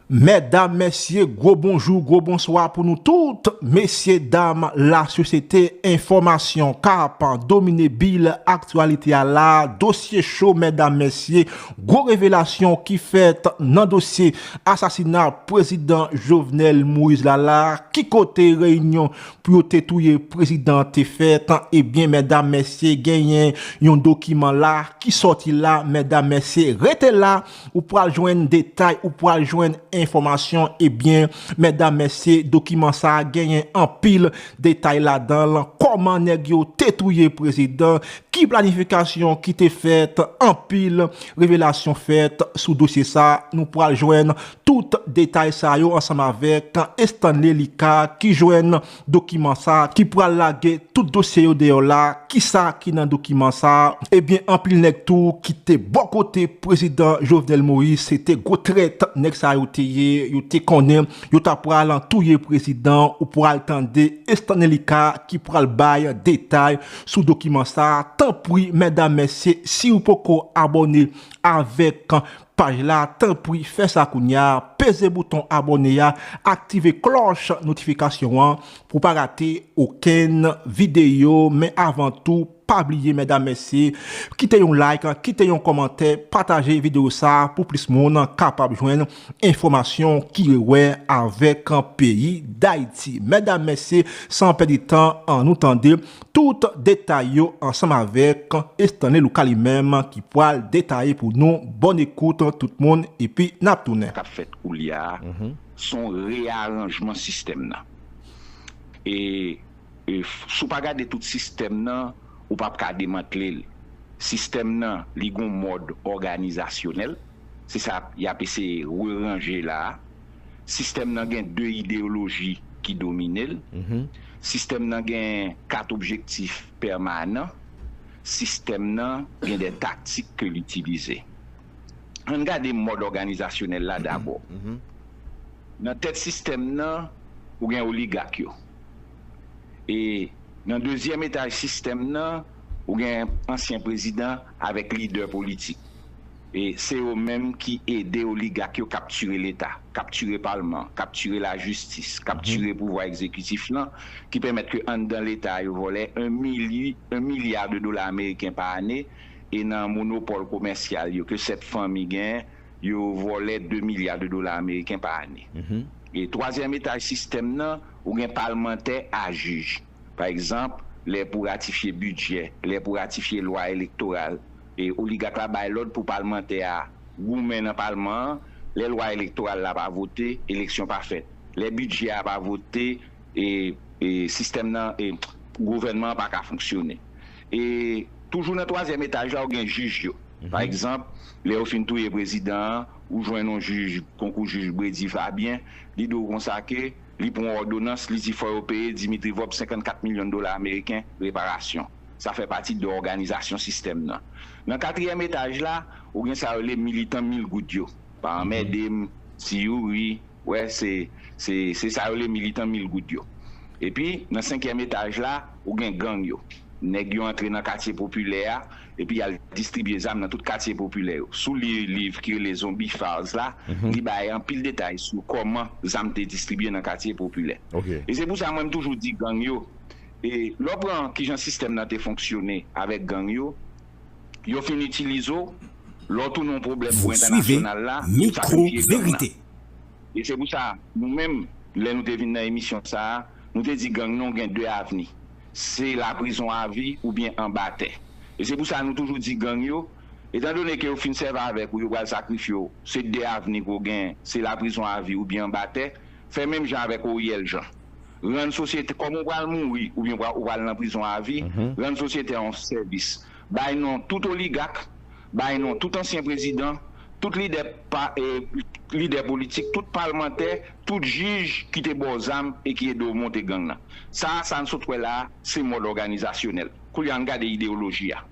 Mèdam mèsye gwo bonjou gwo bonswa pou nou tout mesye dam la sosyete enfòmasyon kap domine bil aktyalite a la dosye cho mèdam mèsye gwo revelasyon ki fèt nan dosye asasina prezidan Jovenel Moïse la la ki kote reyinyon pou yo te touye prezidan te fèt ebyen mèdam mèsye genyen yon dokiman la ki sòti la mèdam mèsye rete la Ou pral jwenn detay, ou pral jwenn enfòmasyon, ebyen mèdam mèsye dokiman sa genyen anpil detay ladanl, kòman nèg yo te touye prezidan, ki planifikasyon ki te fèt, anpil revelasyon fèt sou dosye sa, nou pral jwenn tout detay sa yo ansanm avèk Estanley Lika ki jwenn. Dokiman sa ki pral lage tout dosye yo deyò la kisa ki nan dokiman sa ebyen anpil nèg tou ki te bò kote prezidan Jovenel Moïse se te gwo trèt nèg sa yo te ye yo te konnen yo ta pral touye prezidan ou pral tande Estanley Lika ki pral bay detay sou dokiman sa tanpri mèdam mesye siw poko abòne avèk paj la tanpri fè sa kounya peze bouton abòne ya aktive klòch notifikasyon an pou pa rate okenn videyo men avan tou pa bliye mèdam mesye kite yon like kite yon kòmantè pataje videyo sa pou plis moun kapab jwenn enfòmasyon ki rewè avèk peyi dayiti mèdam mesye san pèdi tan an nou tande Tout detay yo ansanm avèk Estanley Luka li menm ki pwal detaye pou nou bòn ekout tout moun epi nap tounen. kap fèt koulya a son reyaranjman sistèm nan e sou pa gade tout sistèm nan ou pap ka demantle l sistèm nan li gon mòd òganizasyonèl se sa yap eseye reranje la a. Sistèm nan gen de ideyoloji ki domine l. Sistèm nan gen kat objektif pèmanan. Sistèm nan gen de taktik ke l itilize. An n gade mòd òganizasyonèl la dabò. Nan tèt sistèm nan, ou gen oligak yo. E nan dezyèm etaj sistèm nan, ou gen ansyen prezidan avèk lidè politik. Se yo menm ki ede oligak yo kaptire leta, kaptire palman, kaptire lajistis, kaptire pouvwa egzekitif lan, ki pèmèt ke anndan leta a yo vòlè 1 mili, 1 milya de dola ameriken pa ane, e nan monopòl komèsyal yo ke 7 fanmi gen, yo vòlè 2 milya de dola ameriken pa ane. E twazyèm etaj sistèm nan, ou gen palmantè a jij. Pa egzanp, lè pou ratifye bidjè, lè pou ratifye lwa elektoral. Oligak la bay lòd pou palmantè a goumen nan palman an, lè lwa elektoral la pa vote, eleksyon pa fèt. Lè bidjè a pa vote, sistèm nan, gouvènman an pa ka fonksyone. Toujou nan twazyèm etaj la ou gen jij yo. Pa egzanp, lè yo fin touye prezidan an, ou jwenn yon jij konkou jij Bredy Fabien, li di w konsa ke li pran yon òdonans, li di fò yo peye Dimitri Vorbe 54 milyon dola ameriken reparasyon. Sa fè pati de òganizasyon sistèm nan. Nan katriyèm etaj la, ou gen sa yo rele militan mil goud yo. Pa anmède m, ti Youri, wè se, se, se sa yo rele militan mil goud yo. Epi, nan senkyèm etaj la, ou gen gang yo. Nèg yo antre nan katye popilè a, epi y al distribye zam nan tout katye popilè yo. Si w li liv ki rele Zombie Files la, li bay anpil detay sou kòman zam te distribye nan katye popilè. E se pou sa mwen m toujou di gang yo, E lè w pran kijan sistèm nan te fonksyone avèk gang yo, yo fin itilize w, lè w tounen yon pwoblèm pou entènasyonal la, yo sakrifye gang nan. E se pou sa nou menm, lè nou te vin nan emisyon sa a, nou te di gang nan gen 2 avni, se laprizon avi oubyen anba tè. E se pou sa nou toujou di gang yo, etan done ke yo fin sèvi avèk ou, yo pral sakrifye w, se 2 avni ke w gen, se laprizon avi oubyen anba tè, Fè menm jan avèk Oriel Jean. Rann sosyete, kòm ou pral mouri oubyen ou pral nan prizon avi, rann sosyete a yon sèvis. Bay non tout oligak, bay non tout ansyen prezidan, tout lidè pa, lidè politik, tout palmantè, tout jij ki te ba w zam e ki ede w monte gang nan. Sa a, sa n sot wè la a, se mòd òganizasyonèl. Koulye a, ann gade ideyoloji a.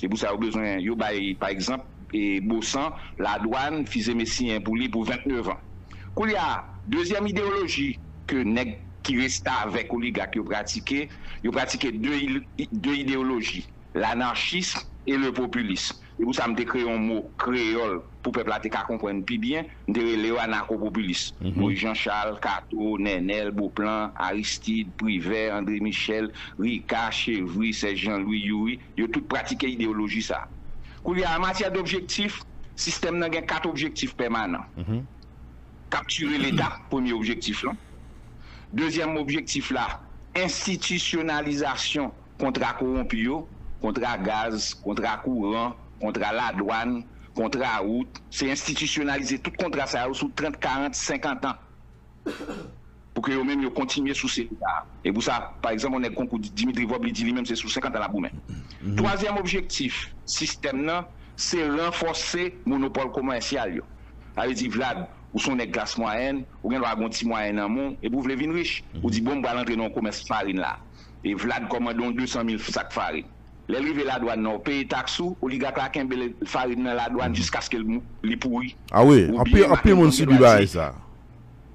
Se pou sa yo bezwen yo bay pa egzanp Bosan, Ladwann, Fizeme siyen pou li pou 29 an. Koulye a, dezyèm ideyoloji ke nèg ki restavèk oligak yo pratike, yo pratike de ideyoloji, lanarchism e le populism. Se pou sa m te kreye yon mo kreyòl pou pèp la te ka konprann pi byen, m te rele yo anakopopilis. Moyiz Janchal, Kato, Nènèl, Boplan, Aristid, Privè, Andre Michèl, Rika, Chevri, Sèj Janlwi, Youri. Yo tout pratike ideyoloji sa a. Koulye a, an matyè dobjektif, sistèm nan gen kat objektif pèmanan. Kaptire Leta, premye objektif lan. Dezyèm objektif la, enstitisyonalizasyon kontra kowonpi yo, kontra gaz, kontra kouran, kontra ladwàn, kontra wout, se enstitisyonalize tout kontra sa yo sou trant, karant, senkantan. Pou ke yo menm yo kontinye sou seri sa a. E pou sa, pa egzanp, yon nèg konkou Dimitri Vob li di li menm se sou 50 an l ap goumen. Twazyèm objektif sistèm nan se ranfòse monopòl komèsyal yo. Sa vle di, Vlad, ou se yon nèg klas mwayèn, ou gen dwa gen yon ti mwayen nan men w, epi w vle vin rich, ou di bon m pral antre nan yon komès farin la. E Vlad kòmande yon 200 mil sak farin. Lè l rive ladwàn nan, ou peye taks ou, oligak la kenbe farin nan ladwàn jiskaske li pouri. A wi, anpil moun sibi bagay sa.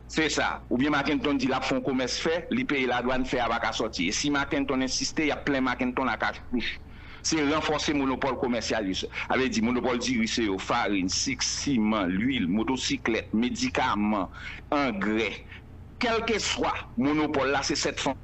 Se sa. Oubyen Makenton di l ap fè yon komès fè li peye ladwann fè a pa ka sòti. E si Makenton ensiste y ap plen Makenton a kach kouch. Se ranfòse monopòl komèsyal yo se. A vle di monopòl diri se yo, farin, sik, siman, luil, motosiklèt, medikaman, angrè. Kèlkeswa monopòl la se sèt fanmi.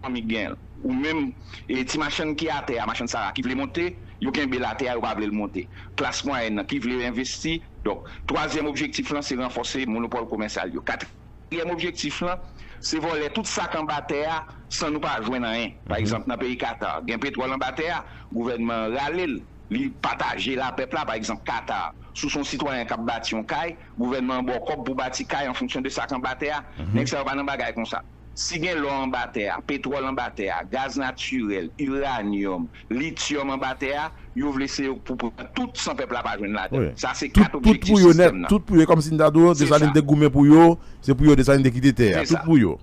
Fanmi k genyen l. Ou menm e ti machann ki atè a, machann sara ki vle monte, yo kenbe l atè a yo pa vle l monte. Klas mwayèn nan ki vle envesti, donk twazyèm objektif lan se ranfòse monopòl komèsyal yo. Katriyèm objektif lan se vòlè tout sa k anba tè a san nou pa jwenn anyen. Pa egzanp nan peyi Katar, gen petwòl anba tè a, gouvènman an rale l, li pataje l a pèp la, pa egzanp Katar, si w se yon sitwayen k ap bati yon kay, gouvènman an ba w kòb pou w bati kay an fonksyon de sa k anba tè a. Nèg sa yo pa nan bagay konsa. Si gen lò anba tè a, petwòl anba tè a, gaz natirèl, iranyòm, lityòm anba tè a, yo vle se yo k pou pran tout san pèp la pa jwenn ladan l. Sa se kat objektif sistèm nan. Tout pou yo, e kòm si n ta di w, Desalin te goumen pou yo, se pou yo Desalin te kite tè a. Tout pou yo.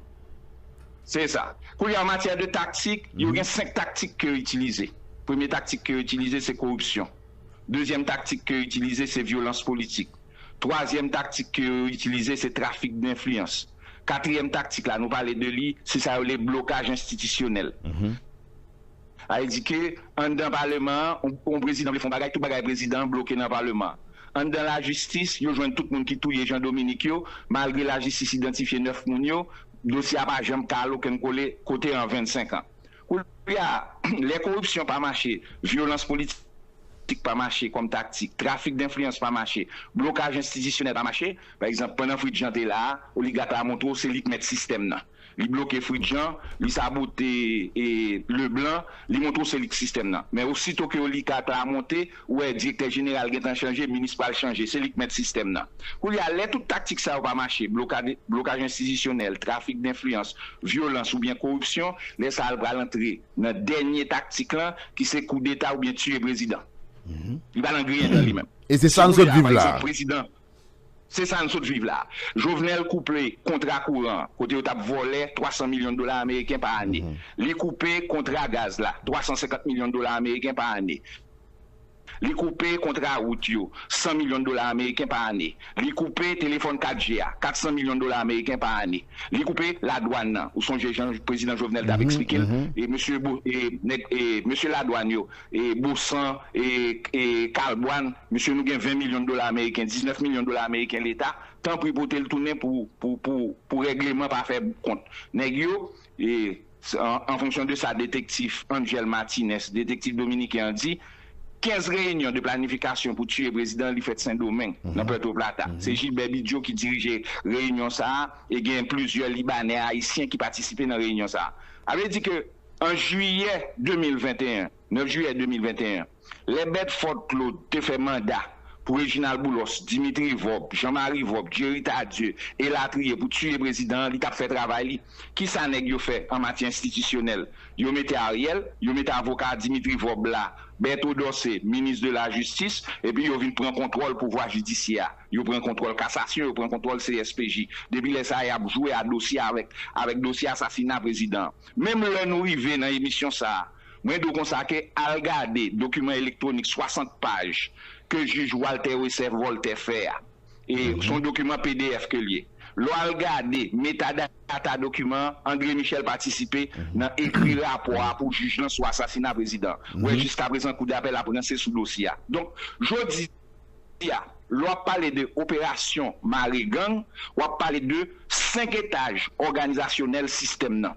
Se sa. Koulye a an matyè de taktik, yo gen senk taktik ke yo itilize. Premye taktik ke yo itilize se koripsyon. Dezyèm taktik ke yo itilize se vyolans politik. Twazyèm taktik ke yo itilize se trafik denfliyans. Katriyèm taktik la, nou pale de li, se sa yo rele blokaj enstitisyonèl. Sa vle di ke anndan paleman an, yon prezidan vle fè yon bagay, tout bagay prezidan an bloke nan paleman an. Anndan lajistis, yo jwenn tout moun ki touye Jean Dominique yo, malgre lajistis idantifye 9 moun yo, dosye a pa janm ka al okenn kole kote an 25 an. Koulye a, lè koripsyon pa mache, vyolans politik pa mache kòm taktik, trafik denfliyans pa mache, blokaj enstitisyonèl pa mache, pa egzanp, pandan Fritz Jean te la a, oligat la montre w se li k mèt sistèm nan. Li bloke Fritz Jean, li sabote Leblanc, li montre w se li k sistèm nan. Men osito ke oligat la monte, Ou wè direktè jeneral gentan chanje, minis pral chanje, se li k mèt sistèm nan. Koulye a, lè tout taktik sa yo pa mache, blokad, blokaj enstitisyonèl, trafik denfliyans, vyolans oubyen koripsyon, lè sa a l pral antre nan dènye taktik lan ki se koudeta oubyen tiye prezidan. Li pa nan griyen dan li menm. E se sa n sot viv la a. Se sa n sot viv la. Jovenel koupe kontra kouran kote yo t ap vòlè 300 milyon dola ameriken pa ane. Li koupe kontra gaz la 350 milyon dola ameriken pa ane. Li koupe kontra wout yo 100 milyon dola ameriken pa ane. Li koupe telefòn 4G a 400 milyon dola ameriken pa ane. Li koupe ladwàn nan. Ou sonje jan prezidan Jovenel t ap eksplike l e mesye Mesye ladwàn yo. Bosan, Kalbwann, mesye nou gen 20 milyon dola ameriken, 19 milyon dola ameriken leta, tanpri pote l tounen pou règleman pa fè kont nèg yo, an fonksyon de sa detektif Angel Martinez, detektif dominiken an di, 15 reyinyon de planifikasyon pou tiye prezidan an li fèt Sendomeng, nan Puerto Plata. Se Gilbert Bidjo ki dirije reyinyon sa a e gen plizyè Libanè, Ayisyen ki patisipe nan reyinyon sa a. A vle di ke. An jiyè 2021, 9 jiyè 2021, lè Bèdfòd Klod te fè manda pou Rejinal Boulòs, Dimitri Vòb, Jan Mari Vòb, Djeri Tadye, elatriye, pou tiye prezidan an, li t ap fè travay li. Ki sa nèg yo fè an matyè enstitisyonèl? Yo mete Ariel, yo mete avoka Dimitri Vòb la, Bèto Dòse, minis de lajistis, epi yo vin pran kontwòl pouvwa jidisyè a. Yo pran kontwòl kasasyon, yo pran kontwòl CSPJ. Depi lè sa a, y ap jwe a dosye avèk avèk dosye asasina prezidan an. Menm lè nou rive nan emisyon sa a, mwen di w konsa ke al gade dokiman elektwonik 60 paj ke jij Walter Wessef Voltaire fè a. E se yon dokiman pdf ke l ye. Lè w al gade metadata dokiman an, André Michel patisipe nan ekri rapò a pou jij lan sou asasina prezidan an. Ou wè jiskaprezan kou dapèl ap ranse sou dosye a. Donk, jodi. Jodi a, lè w ap pale de operasyon mare gang, w ap pale de 5 etaj òganizasyonèl sistèm nan.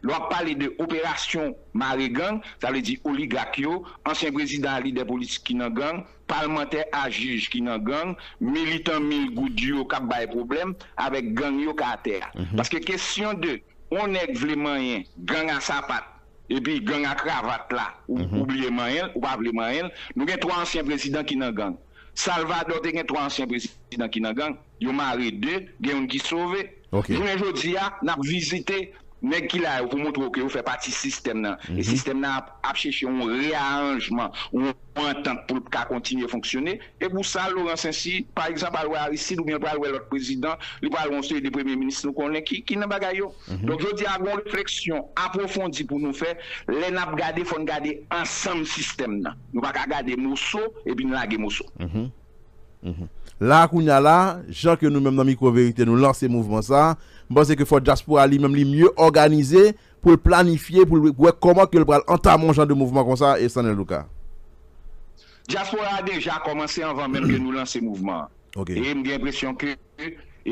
Lè w ap pale de operasyon mare gang, sa vle di oligak yo, ansyen prezidan ak lidè politik ki nan gang, palmantè a jij ki nan gang, militan mil goud yo k ap bay pwoblèm avèk gang yo ka atè a. Paske kesyon de yon nèg vle manyen gang a sapat, Epi gang a kravat la ou bliye manyenl ou pa vle manyenl nou gen 3 ansyen prezidan ki nan gang Salvador te gen 3 ansyen prezidan ki nan gang yo mare 2 gen youn ki sove jounen jodi a nap vizite nèg ki la yo pou moutre w ke yo fè pati sistèm nan e sistèm nan ap chèche yon rearanjman yon yon antant pou l ka kontinye fonksyone. E pou sa, Laurent Saincy, pa egzanp, al wè Aristide oubyen l pral wè lòt prezidan, li pral wè yon seri de premye minis nou konnen ki nan bagay yo. Donk jodi a gen yon refleksyon apwofondi pou nou fè. Lè n ap gade, fò n gade ansanm sistèm nan. Nou pa ka gade moso epi n lage moso. La a kounye a la, jan ke nou menm nan Mikwo Verite nou lanse mouvman sa a, m panse ke fò dyaspora li menm li mye òganize pou l planifye, pou l wè kòman ke l pral antame yon jan de mouvman konsa, Stanley Lucas. Dyaspora a deja kòmanse anvan menm ke nou lanse mouvman an. E m gen enpresyon ke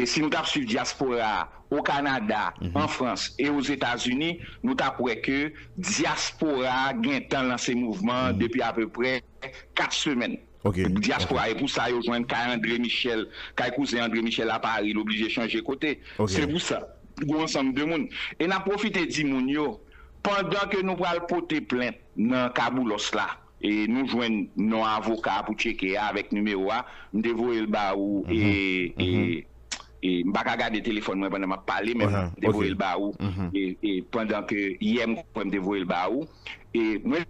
si nou t ap swiv dyaspora a o Kanada, an Frans e o Zetazini, nou t ap wè ke dyaspora a gentan lanse mouvman an depi apeprè 4 semèn. Diaspora e pou sa yo jwenn kay Andre Michel, kay kouzen Andre Michel a Paris l oblije chanje kote. Se pou sa gou ansanm de moun. E nap pwofite di moun yo pandan ke nou pral pote plent nan ka Boulos la e nou jwenn non avoka pou tcheke a avèk nimewo a m te voye l ba ou e m pa ka gade telefòn mwen pandan map pale men m te voye l ba ou pandan ke yè m kwè m te voye l ba ou e mwen.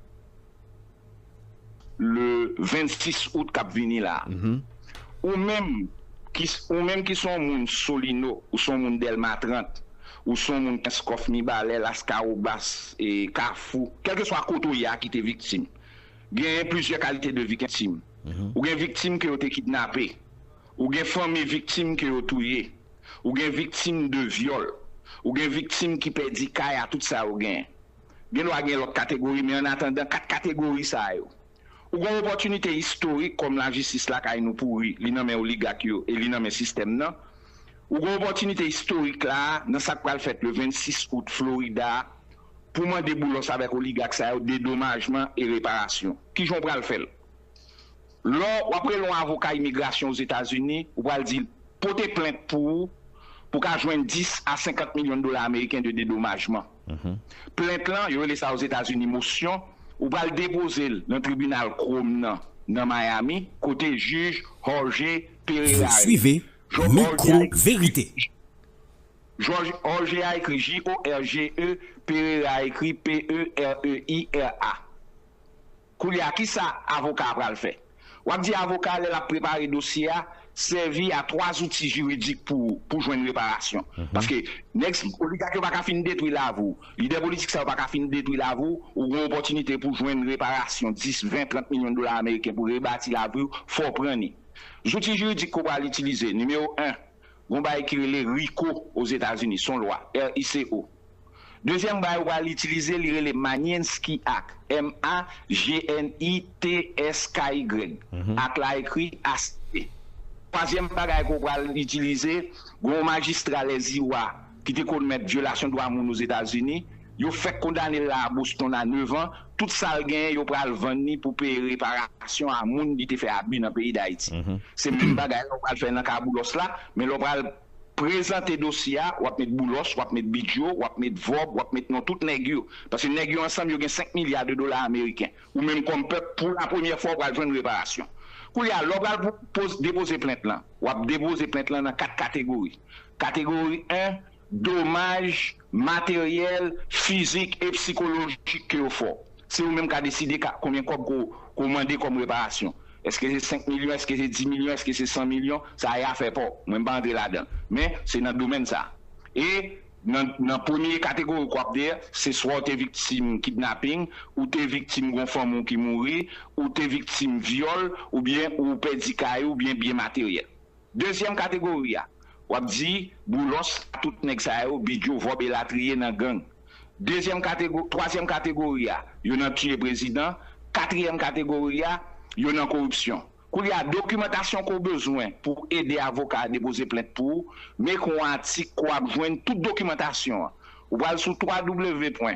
le 26 out kap vini la ou menm ou menm ki son moun solino ou son moun delma 30 ou son moun kenskòf mibalè laskawobas e kafou kèlkeswa kote ou ye a ki te viktim genyen plizyè kalite de viktim ou gen viktim ke yo te kidnape ou gen fanmi viktim ke yo touye ou gen viktim de vyòl ou gen viktim ki pèdi kay a tout sa yo genyen. Gen dwa gen lòt kategori, men an atandan 4 kategori sa yo, ou gen yon opòtinite istorik kòm lajistis lakay nou pouri, li nan men oligak yo e li nan men sistèm nan. Ou gen opòtinite istorik la a nan sa k pral fèt le 26 out Florida a pou mande Boulos avèk oligak sa yo dedomajman e reparasyon. Ki jan w pral fè l? Lò w ap rele yon avoka imigrasyon Ozetazini, ou pral di l pote plent pou ou pou w ka jwenn 10 a 50 milyon dola ameriken de dedomajman. Plent lan, yo rele sa Ozetazini mosyon, ou pral depoze l nan tribinal Chrome nan nan Miami, kote jij Jorge Pereira rele. Jorge a ekri Jorge a ekri J-o-r-g-e, Pereira a ekri P-e-r-e-i-r-a. Koulye a, ki sa avoka a pral fè? W ap di avoka a lè l ap prepare dosye a, sèvi a twa zouti jiridik pou pou jwenn reparasyon. Paske nèg sa, oligak yo pa ka fin detwi lavi w. Lidè politik sa yo pa ka fin detwi lavi w. Ou gen opòtinite pou jwenn reparasyon 10, 20, 30 milyon dola ameriken pou rebati lavi w, fò w pran ni. Zouti jiridik ke w pral itilize, nimewo 1. Gon bagay ki rele RICO Ozetazini, son lwa, R-I-C-O. Dezyèm bagay ou pral itilize li rele Magninsky Act, M-A-G-N-I-T-S-K-Y, act la ekri A-C-T. Twazyèm bagay ke w pral itilize, gon yon majistra lè Ziwa ki te komèt vyolasyon dwa moun Ozetazini, yo fèk kondane l la a Boston a 9 an, tout sa l genyen yo pral vann li pou peye reparasyon a moun ki te fè abi nan peyi Dayiti. Se menm bagay la ou pral fè nan ka Boulos la, men lè w pral prezante dosye a, w ap met Boulos, w ap met Bidyo, w ap met Vob, w ap met non tout nèg yo. Paske nèg yo ansanm yo gen 5 milya de dola ameriken. Ou menm kòm pèp, pou la premyè fwa ou pral jwenn reparasyon. Koulye a, lè w pral depoze plent lan, w ap depoze plent lan nan 4 kategori. Kategori 1, Domaj materyèl, fizik e psikolojik ke yo fè w. Se ou menm ka deside ka konbyen kòb ke w mande kòm reparasyon. Eske se 5 milyon, eske se 10 milyon, eske se 100 milyon, sa e afè pa w. Mwen m pa antre ladan l. Men, se nan domèn sa. E nan nan premye kategori ke w ap de, se swa w te viktim kidnaping, ou te viktim gon fanmi w ki mouri, ou te viktim vyòl, oubyen ou pèdi kay ou oubyen byen materyèl. Dezyèm kategori a, w ap di Boulos a tout nèg sa yo, Bigio, Vòb elatriye nan gang. Dezyèm kategori, twazyèm kategori a, yo nan tiye prezidan. Katriyèm kategori a, yo nan koripsyon. Koulye a, dokimantasyon ke w bezwen pou ede avoka a depoze plent pou ou, men kon atik ke w ap jwenn tout dokimantasyon an. Ou pral sou www.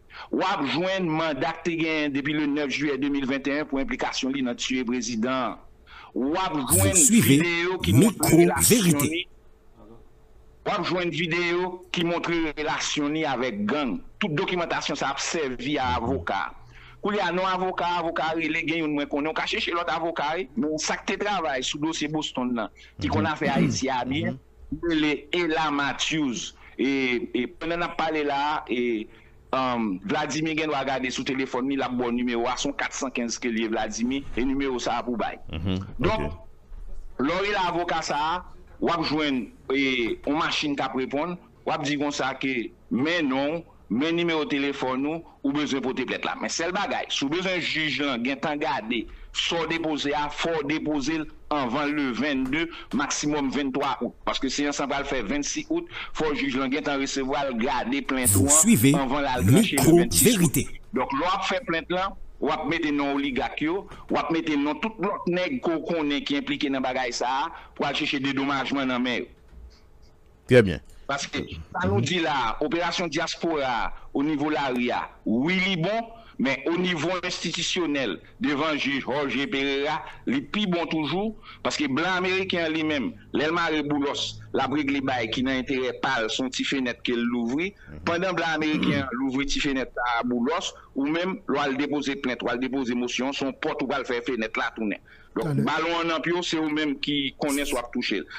W ap jwenn manda k te genyen depi le 9 jiyè 2021 pou enplikasyon li nan tiye prezidan an. W ap Vous jwenn suivez videyo ki montre Micro relasyon Vérité. li W ap jwenn videyo ki montre relasyon li avèk gang. Tout dokimantasyon sa ap sèvi a avoka a. Koulye a, non avoka a, avoka a rele, gen youn mwen konnen, w ka chèche lòt avoka wi, men sa k te travay sou dosye Boston nan, ki konn afè Ayiti a byen, Li rele Ella Matthews e pandan nap pale la e Vladimir gen dwa gade sou telefòn li lap baw nimewo a son 415 kel ye Vladimir e nimewo sa pou bay donk lè w rele avoka sa wap jwenn on machin kap reponn wap di konsa ke men non w Men nimewo telefòn ou ou bezwen pote plent la. Men sèl bagay, si w bezwen jij lan gentan gade sa w depoze a, fò w depoze l anvan le 22, maksimòm 23 out. Paske seyans lan pral fè 26 out, fò jij lan gentan resevwa l, gade plent ou an anvan l al tranche le 26 out. Donk lè w ap fè plent lan, w ap mete non oligak yo, w ap mete non tout lòt nèg ke w konnen ki enplike nan bagay sa a pou al chèche dedomajman nan men yo. Trè byen. Paske sa nou di la a, operasyon dyaspora a o nivo lari a, wi li bon, men o nivo enstitisyonèl, devan jij Jorge Pereira, li pi bon toujou, paske blan ameriken an li menm, lè l mare boulòs, l ap regle bay ki nan enterè pa l, s on ti fenèt ke l louvri, pandan blan ameriken an louvri ti fenèt sa a boulòs, ou menm, lè w al depoze plent, w al depoze mosyon, s on pòt ou pral fè fenèt la tounen. Donk, balon an nan pye w, se ou menm ki konnen si w ap touche l.